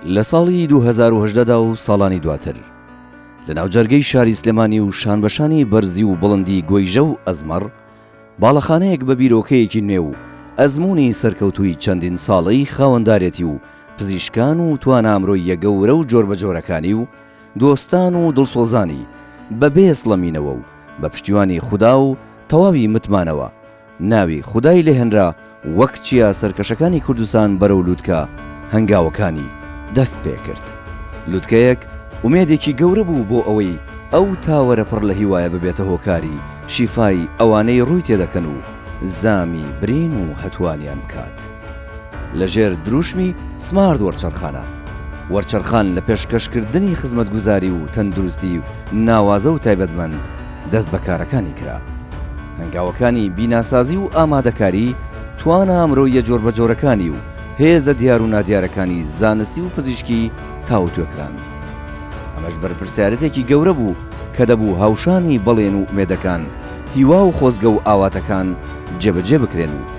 لە ساڵی دوو هەزار و هەژدە دا و ساڵانی دواتر لە ناوجەرگەی شاری سلێمانی و شانبەشانی بەرزی و بڵندی گۆیژە و ئەزمەڕ باڵەخانەیەک بە بیرۆکەیەکی نوێ و ئەزموونی سەرکەوتووی چەندین ساڵەی خاوەندارێتی و پزیشکان و توانا مرۆییە گەورە و جۆربەجۆرەکانی و دۆستان و دڵسۆزانی بە بێ سڵەمینەوە و بە پشتیوانی خودا و تەواوی متمانەوە، ناوی خودای لێ هێنرا وەک چیا سەرکەشەکانی کوردستان بەرەو لوتکە هەنگاوەکانی دەست پێ کرد. لوتکەیەک ئومێدێکی گەورە بوو بۆ ئەوەی ئەو تاوەرە پڕ لە هیوایە ببێتە هۆکاری شیفای ئەوانەی ڕووی تێ دەکەن و زامی برین و هەتووانیان بکات. لەژێر دروشمی سمارت وەرچەرخانە، وەرچەرخان لە پێشکەشکردنی خزمەتگوزاری و تەندروستی ناوازە و تایبەتمەند دەست بە کارەکانی کرا. هەنگاوەکانی بیناسازی و ئامادەکاری، توانا مرۆییە جۆربەجۆرەکانی و هێزە دیار و نادیارەکانی زانستی و پزیشکی تاوتوێ کران. ئەمەش بەرپرسیارەتێکی گەورە بوو کە دەبوو هاوشانی بەڵێن و ئومێدەکان، هیوا و خۆزگە و ئاواتەکان جێبەجێ بکرێن و،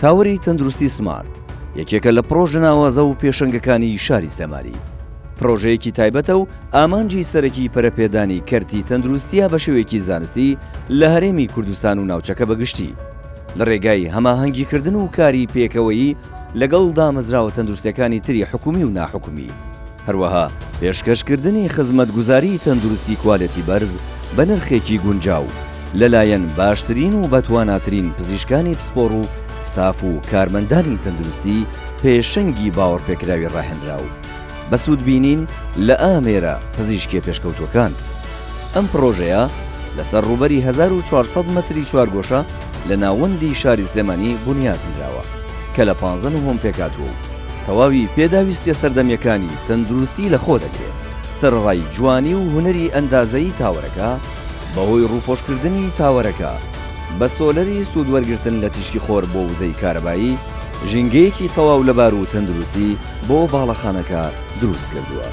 تاوەری تەندروستی سمارت یەکێکە لە پڕۆژە ناوازە و پێشەنگەکانی شاری سلێمانی. پڕۆژەیەکی تایبەتە و ئامانجی سەرەکی پەرەپێدانی کەرتی تەندروستیە بە شێوەیەکی زانستی لە هەرێمی کوردستان و ناوچەکە بەگشتی. لە ڕێگای هەماهەنگیکردن و کاری پێکەوەیی لەگەڵ دامەزراوە تەندروستەکانی تری حکومی و ناحکومی. هەروەها پێشکەشکردنی خزمەتگوزاریی تەندروستی کوالێتی بەرز بە نرخێکی گونجاو لەلایەن باشترین و بەتواناترین پزیشکانی پسپۆڕ و ستاف و کارمەندانی تەندروستی پێشەنگی باوەڕپێکراوی ڕاهێنراو بە سوودبینین لە ئامێرە پزیشکییە پێشکەوتووەکان. ئەم پڕۆژەیە لەسەر ڕووبەری هەزار و چوار سەد مەتری چوارگۆشە، لە ناوەندی شاری سلێمانی بونیات نراوە کە لە پانزە نهۆم پێکهاتووە و تەواوی پێداویستیە سەردەمیەکانی تەندروستی لە خۆ دەگرێت، سەرەڕای جوانی و هونەری ئەندازەیی تاوەرەکە بەهۆی ڕووپۆشکردنی تاوەرەکە بە سۆلەری سوودوەرگرتن لە تیشکی خۆر بۆ وزەی کارەبایی ژینگەیەکی تەواو لەبار و تەندروستی بۆ باڵەخانەکە دروست کردووە.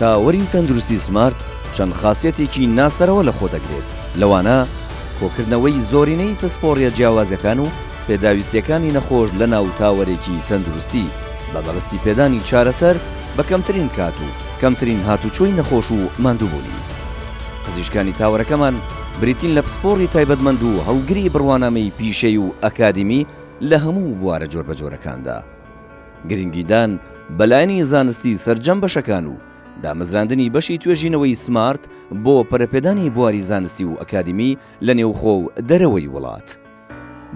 تاوەری تەندروستی سمارت چەند خاسیەتێکی ناسەرەوە لە خۆ دەگرێت لەوانە. کۆکردنەوەی زۆرینەی پسپۆڕییە جیاوازەکان و پێداویستییەکانی نەخۆش لەناو تاوەرێکی تەندروستی، بە مەبەستی پێدانی چارەسەر بە کەمترین کات و کەمترین هاتوچۆی نەخۆش و ماندووبوونی. پزیشکانی تاوەرەکەمان بریتین لە پسپۆڕی تایبەتمەند و هەڵگری بڕوانامەی پیشەیی و ئەکادیمی لە هەموو بوارە جۆربەجۆرەکاندا. گرنگیدان بە لایەنی زانستی سەرجەم بەشەکان و دامەزراندنی بەشی توێژینەوەی سمارت بۆ پەرەپێدانی بواری زانستی و ئەکادیمی لە نێوخۆ و دەرەوەی وڵات.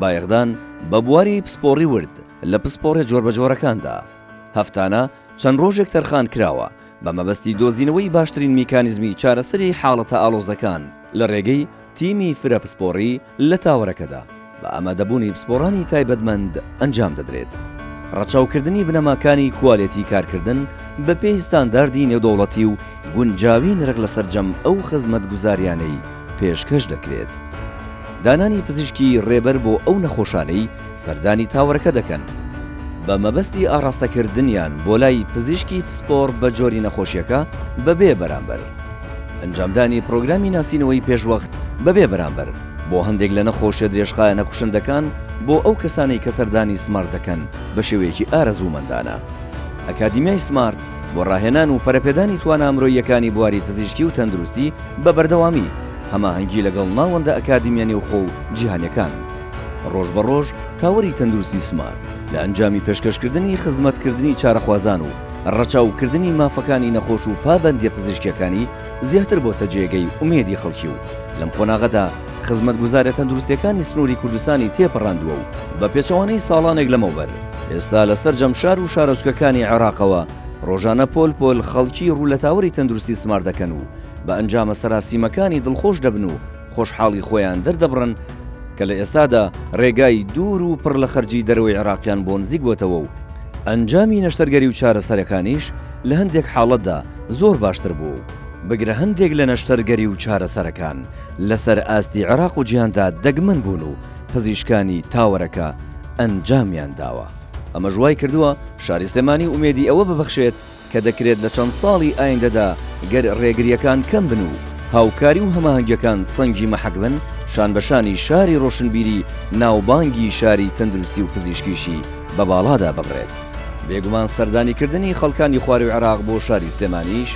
بایەخدان بە بواری پسپۆڕی ورد لە پسپۆڕە جۆربەجۆرەکاندا. هەفتانە چەند ڕۆژێک تەرخان کراوە بە مەبەستی دۆزینەوەی باشترین میکانیزمی چارەسەری حاڵەتە ئاڵۆزەکان لە ڕێگەی تیمی فرە پسپۆڕی، لە تاوەرەکەدا بە ئامادەبوونی پسپۆڕانی تایبەتمەند ئەنجام دەدرێت. ڕەچاوکردنی بنەماکانی کوالێتی کارکردن بەپێی ستانداردی نێودەوڵەتی و گونجاوی نرخ لە سەرجەم ئەو خزمەتگوزاریانەی پێشکەش دەکرێت. دانانی پزیشکی ڕێبەر بۆ ئەو نەخۆشانەی سەردانی تاوەرەکە دەکەن بە مەبەستی ئاڕاستەکردنیان بۆ لای پزیشکی پسپۆڕ بە جۆری نەخۆشیەکە بەبێ بەرامبەر. ئەنجامدانی پرۆگرامی ناسینەوەی پێشوەخت بەبێ بەرامبەر بۆ هەندێک لە نەخۆشیە درێژخایەنە کوشندەکان بۆ ئەو کەسانەی کە سەردانی سمارت دەکەن بە شێوەیەکی ئارەزوومەندانە. ئەکادیمیای سمارت بۆ ڕاهێنان و پەرەپێدانی توانا مرۆییەکانی بواری پزیشکی و تەندروستی بە بەردەوامی هەماهەنگی لەگەڵ ناوەندە ئەکادیمیە نێوخۆ و جیهانیەکان ڕۆژ بە ڕۆژ تاوەری تەندروستی سمارت لە ئەنجامی پێشکەشکردنی خزمەتکردنی چارەخوازان و ڕەچاو کردنی مافەکانی نەخۆش و پابەندیە پزیشکیەکانی زیاتر بۆتە جێگەی ئومێدی خەڵکی و لەم قۆناغەدا خزمەتگوزارە تەندروستیەکانی سنوری کوردستانی تێپەڕاندوە و بە پێچەوانەی ساڵانێک لەمەوبەر ئێستا لە سەرجەم شار و شارۆچکەکانی عێراقەوە ڕۆژانە پۆل پۆل خەڵکی ڕوو لە تاوەری تەندروستی سمارت دەکەن و بە ئەنجامە سەراسیمەکانی دڵخۆش دەبن و خۆشحاڵی خۆیان دەردەبڕن کە لە ئێستادا رێگای دوور و پڕ لە خەرجی دەرەوەی عێراقیان بۆ نزیک بۆتەوە و ئەنجامی نەشتەرگەری و چارەسەرەکانیش لە هەندێک حاڵەتدا زۆر باشتر بووە و بگرە هەندێک لە نەشتەرگەری و چارەسەرەکان لەسەر ئاستی عێراق و جیهاندا دەگمەن بوون و پزیشکانی تاوەرەکە ئەنجامیان داوە. ئەمەش وایکردووە شاری سلێمانی ئومێدی ئەوە ببەخشێت کە دەکرێت لە چەند ساڵی ئایندەدا گەر رێگرییەکان کەم بن و هاوکاری و هەماهەنگیەکان سەنگی مەحەک بن، شانبەشانی شاری رۆشنبیری ناوبانگی شاری تەندروستی و پزیشکیشی بە باڵادا ببرێت. بێگومان سەردانی کردنی خەڵکانی خواروی عێراق بۆ شاری سلێمانیش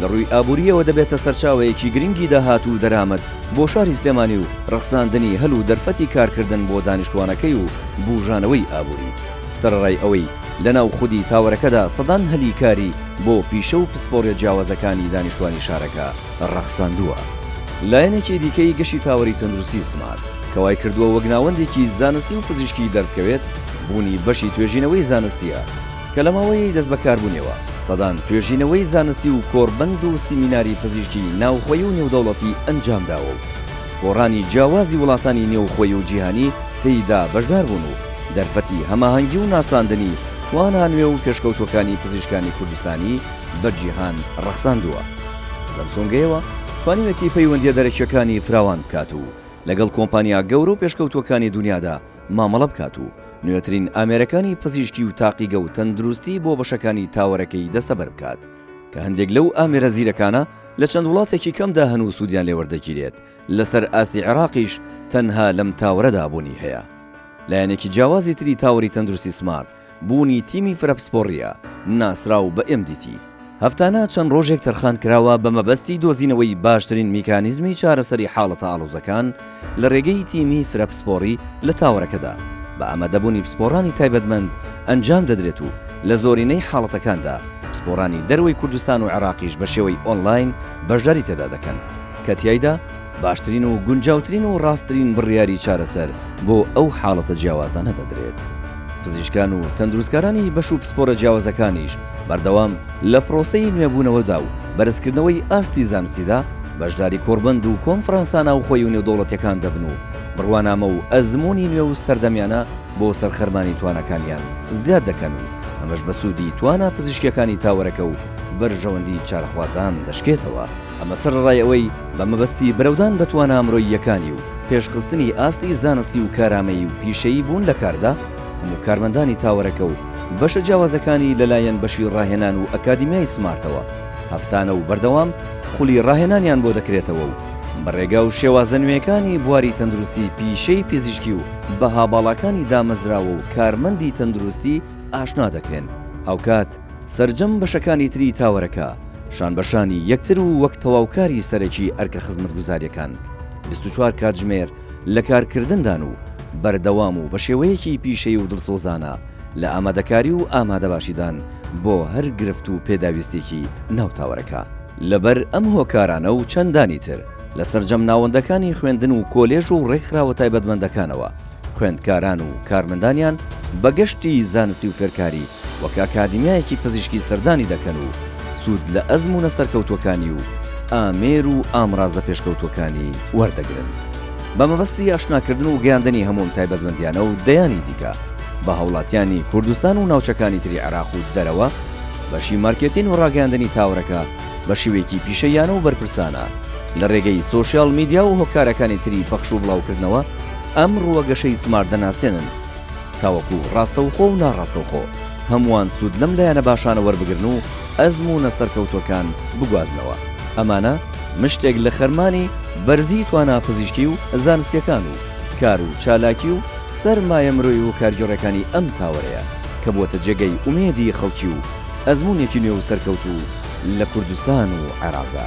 لە رووی ئابوورییەوە دەبێتە سەرچاوەیەکی گرنگی داهات و دەرامەت بۆ شاری سلێمانی و رەخساندنی هەل و دەرفەتی کارکردن بۆ دانیشتوانەکەی و بوژانەوەی ئابووری سەرەڕای ئەوەی لە ناو خودی تاوەرەکەدا سەدان هەلی کاری بۆ پیشە و پسپۆریە جیاوازەکانی دانیشتوانی شارەکە ڕەخساندووە. لایەنێکی دیکەی گەشی تاوەری تەندروستی سمارت، کە وای کردووە وەک ناوەندێکی زانستی و پزیشکی دەربکەوێت، بوونی بەشی توێژینەوەی زانستییە، کە لە ماوەیەی دەست بەکاربوونیەوە سەدان توێژینەوەی زانستی و کۆڕبەند و سیمیناری پزیشکی ناوخۆیی و نێودەوڵەتی ئەنجامداوە و پسپۆڕانی جیاوازی وڵاتانی نێوخۆیی و جیهانی تێیدا بەشداربوون و دەرفەتی هەماهەنگی و ناساندنی توانا نوێ و پێشکەوتووەکانی پزیشکانی کوردستانی بە جیهان ڕەخساندووە. لەم سۆنگەیەوە توانیوێتی پەیوەندییە دەرەکییەکانی فراوان بکات و لەگەڵ کۆمپانیا گەورە و پێشکەوتووەکانی دونیادا مامەڵە بکات و نوێترین ئامێرەکانی پزیشکی و تاقیگە و تەندروستی بۆ بەشەکانی تاوەرەکەی دەستەبەر بکات کە هەندێک لەو ئامێرە زیرەکانە لە چەند وڵاتێکی کەمدا هەن و سوودیان لێوەردەگیرێت لەسەر ئاستی عێراقیش تەنها لەم تاوەرەدا بوونی هەیە. لایەنێکی جیاوازی تری تاوەری تەندروستی سمارت، بوونی تیمی فرە پسپۆڕییە، ناسراو بە ئێم دی تی. هەفتانە چەند ڕۆژێک تەرخان کراوە بە مەبەستی دۆزینەوەی باشترین میکانیزمی چارەسەری حاڵەتە ئاڵۆزەکان لە ڕێگەی تیمی فرە پسپۆڕی لە تاوەرەکەدا بە ئامادەبوونی پسپۆڕانی تایبەتمەند ئەنجام دەدرێت و لە زۆرینەی حاڵەتەکاندا پسپۆڕانی دەرەوەی کوردستان و عێراقیش بە شێوەی ئۆنلاین بەشداری تێدا دەکەن. کە تیایدا باشترین و گونجاوترین و ڕاستترین بڕیاری چارەسەر بۆ ئەو حاڵەتە جیاوازانە دەدرێت. پزیشکان و تەندروستکارانی بەش و پسپۆرە جیاوازەکانیش بەردەوام لە پرۆسەی نوێبوونەوەدا و بەرزکردنەوەی ئاستی زانستیدا بەشداری کۆڕبەند و کۆنفرانسە ناوخۆی و نێودەوڵەتیەکان دەبن و بڕوانامە و ئەزموونی نوێ و سەردەمیانە بۆ سەرخەرمانی تواناکانیان زیاد دەکەن و ئەمەش بە سوودی توانا پزیشکیەکانی تاوەرەکە و بەرژەوەندی چارەخوازان دەشکێتەوە. ئەمە سەرەڕای ئەوەی بە مەبەستی برەودان بە توانا مرۆییەکانی و پێشخستنی ئاستی زانستی و کارامەیی و پیشەیی بوون لە کاردا، هەموو کارمەندانی تاوەرەکە و بەشە جیاوازەکانی لەلایەن بەشی ڕاهێنان و ئەکادیمیای سمارتەوە هەفتانە و بەردەوام خولی ڕاهێنانیان بۆ دەکرێتەوە و بە ڕێگا و شێوازە نوێیەکانی بواری تەندروستی پیشەی پزیشکی و بەها باڵاکانی دامەزراوە و کارمەندی تەندروستی ئاشنا دەکرێن هاوکات سەرجەم بەشەکانی تری تاوەرەکە شانبەشانی یەکتر و وەک تەواوکاری سەرەکی ئەرکە خزمەتگوزارییەکان بیست و چوار کاتژمێر لە کارکردندان و بەردەوام و بە شێوەیەکی پیشەیی و دڵسۆزانە لە ئامادەکاری و ئامادەباشیدان بۆ هەر گرفت و پێداویستییەکی ناو تاوەرەکە. لەبەر ئەم هۆکارانە و چەندانی تر، لە سەرجەم ناوەندەکانی خوێندن و کۆلێژ و ڕێکخراوە تایبەتمەندەکانەوە، خوێندکاران و کارمەندانیان بە گەشتی زانستی و فێرکاری وەک ئەکادیمیایەکی پزیشکی سەردانی دەکەن و سوود لە ئەزموونە سەرکەوتووەکانی و ئامێر و ئامرازە پێشکەوتووەکانی وەردەگرن بە مەبەستی ئاشناکردن و گەیاندنی هەموو ئەم تایبەتمەندیانە و دەیانی دیکە بە هاوڵاتیانی کوردستان و ناوچەکانی تری عێراق و دەرەوە بەشی مارکێتین و ڕاگەیاندنی تاوەرەکە بە شێوەیەکی پیشەییانە و بەرپرسانە لە رێگەی سۆشیال میدیا و هۆکارەکانی تری پەخش و بڵاوکردنەوە ئەم رووە گەشەی سمارت دەناسێنن تاوەکو راستەوخۆ و ناڕاستەوخۆ هەمووان سوود لەم لایەنە باشانە وەربگرن و ئەزموونە سەرکەوتووەکان بگوازنەوە ئەمانە مشتێک لە خەرمانی بەرزی توانا پزیشکی و زانستییەکان و کار و چالاکی و سەرمایە مرۆیی و کارگێڕیەکانی ئەم تاوەرەیە کە بووەتە جێگەی ئومێدی خەڵکی و ئەزموونێکی نوێ و سەرکەوتوو لە کوردستان و عێراقدا.